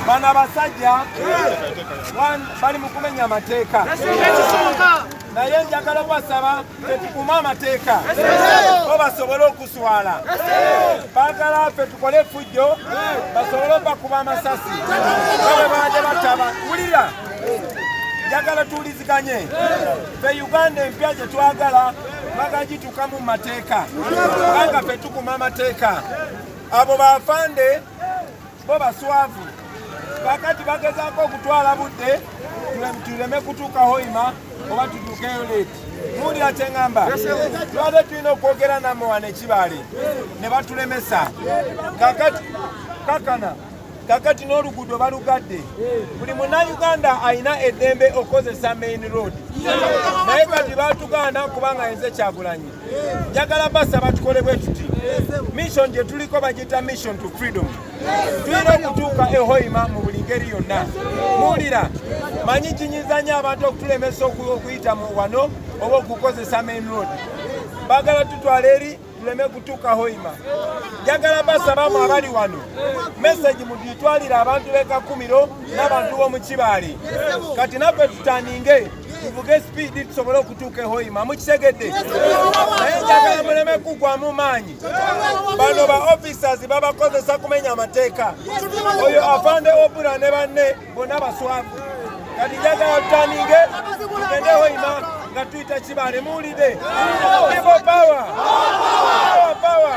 Bano abasajja bali mu kumenya amateeka, naye njagala kubasaba fe tukume amateeka bo basobole okuswala. Baagala fe tukole efujjo basobole obakuba amasasi babe baade bataba. Wulira, njagala tuwuliziganye fe Uganda empya gye twagala twagala gitukamu mu mateeka kubanga fe tukuma amateeka abo bafande bo baswavu kakati bagezaako okutwala budde tuleme kutuuka hoima oba tutuukeyo leeti muwulira kyeŋamba twade tulina okwogera namwe wano ekibaale ne batulemesa kakati kakana kakati n'oluguudo balugadde buli munauganda alina eddembe okukozesa main road naye kati batuganda kubanga yenze kyagulanyi njagala basaba tukole bwe tuti mission gye tuliko bagiyita mission to freedom tulina okutuuka ehoima mu buli ngeri yonna muwulira manyi kinyiza nyo abantu okutulemesa okuyita mu wano oba okukozesa main road bagala tutwala eri tuleme kutuuka hoima njagala basabamu abali wano meseji mugitwalire abantu b'ekakumiro n'abantu b'omu kibaale kati naffe tutaninge tuvuge sipiidi tusobole okutuuka ehoima mukitegedde naye njagala muleme kugwamu maanyi bano ba officers babakozesa kumenya amateeka oyo afande obura ne banne bonna baswavu kati njagala tutaninge tugende hoima nga tuyita kibale muwulide ibo power power